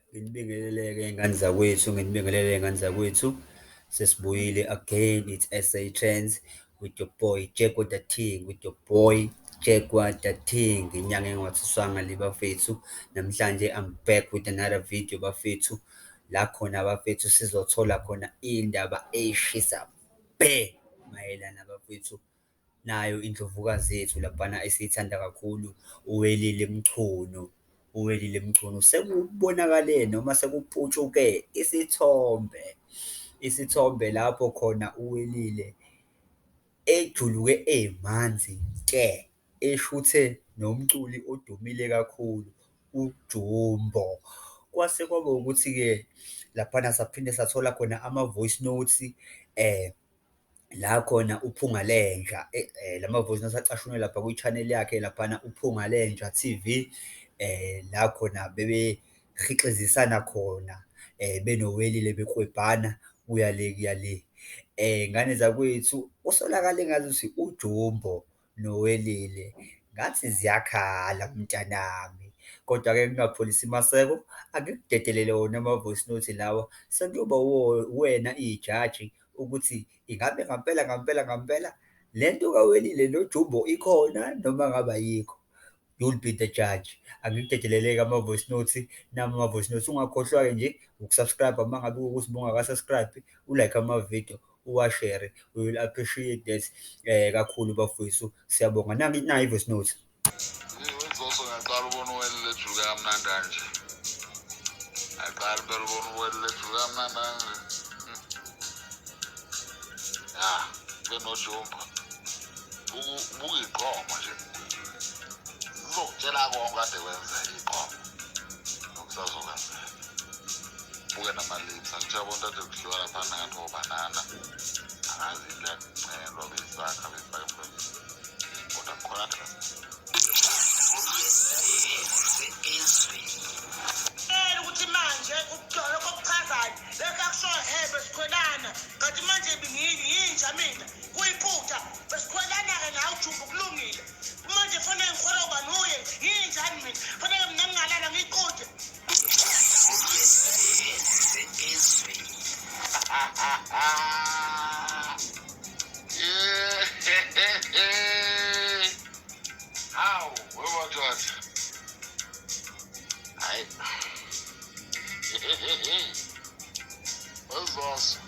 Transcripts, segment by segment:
Nginibingelele-ke ngani zakwethu, nginibingelele ngani zakwethu. Sesibuyile again it's S_A Trends with your boy Jeggo Da Thing, with your boy Jeggo Da Thing. Inyanga engathuswanga le bafethu. Namhlanje I'm back with another video bafethu. La khona bafethu sizothola khona iy'ndaba ey'shisa bhe mayelana bafethu Nayo indlovukazi yethu laphana esiyithanda kakhulu uWelile Mchunu. UWelile Mchunu sekubonakale noma sekuputshuke isithombe, isithombe lapho khona uWelile ejuluke emanzi te, eshuthe nomculi odumile kakhulu uJumbo. Kwase kwaba ukuthi-ke laphana saphinde sathola khona ama-voice notes . la khona uPhunga Lenja eh, eh, lama voice notes acashunwe lapha kwi channel yakhe laphana uPhunga Lenja TV eh la khona bebe khixizisana khona eh benowelile bekwebhana kuya le kuya le eh ngane zakwethu usolakale ngathi uJumbo noWelile ngathi ziyakhala mntanami kodwa ke ngingapholisi maseko angikudedelele wona ama voice note lawa sekuyoba uwena ijaji ukuthi ingabe ngampela ngampela ngampela lento kaWelile noJumbo ikhona noma ngabe ayikho. You'll be the judge. Angikudedeleleke ama voice notes nami ama voice notes. Ungakhohlwa ke nje ukusubscribe uma ngabe ukuthi bungaka subscribe, u like ama video, uwa share. We will appreciate that eh kakhulu bafowethu. Siyabonga. Nangi nayi voice notes. Ngizoso ngaqala ubona uwele lejuka kamnandi kanje. Ngaqala phela ubona uwele lejuka kamnandi kanje. Ah, benojumba. buyiqomo nje uzokutshela konke kade kwenza iqomo nokusazokwenzeka buke namalips angithiya bonke ade kudliwa lapha nangathi wobanana angazi into yakuncelwa besakha besifake emlonyeni kodwa kukhona ade mina kuyiphutha besikhwelana-ke nawe jumbu kulungile kumanje fanele ngikhwela uba nuye nginjani mina fanele mina ngingalala ngiqonde hawu wewadoda hayi That's awesome.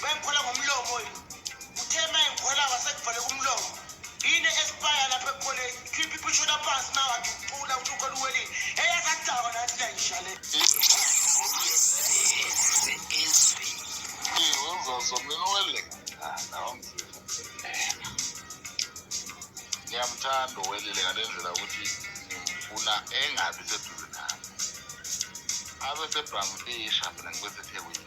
Bengikhola ngomlomo yini? Uthe uma engikhola wasekuvale kumlomo. Yini espire lapha ekukholeni? Khipha iphusho laphansi uma wathi ucula uthi ukhona uwelile. Eyasakudakwa nathi nayisha le. Ngiyamthanda uwelile ngale ndlela ukuthi ngimfuna engabi seduze nami. Abe sebhangifisha mina ngibe sethekwini.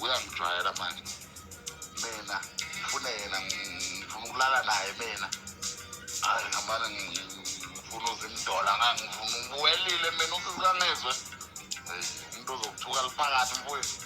uyangijwayela manje mina ngifune yena ngifuna ukulala naye mina hayi ngamane ngifuna uzimdola ngangifuna ubuwelile mina usizangezwe umuntu ozokuthuka liphakathi mfowethu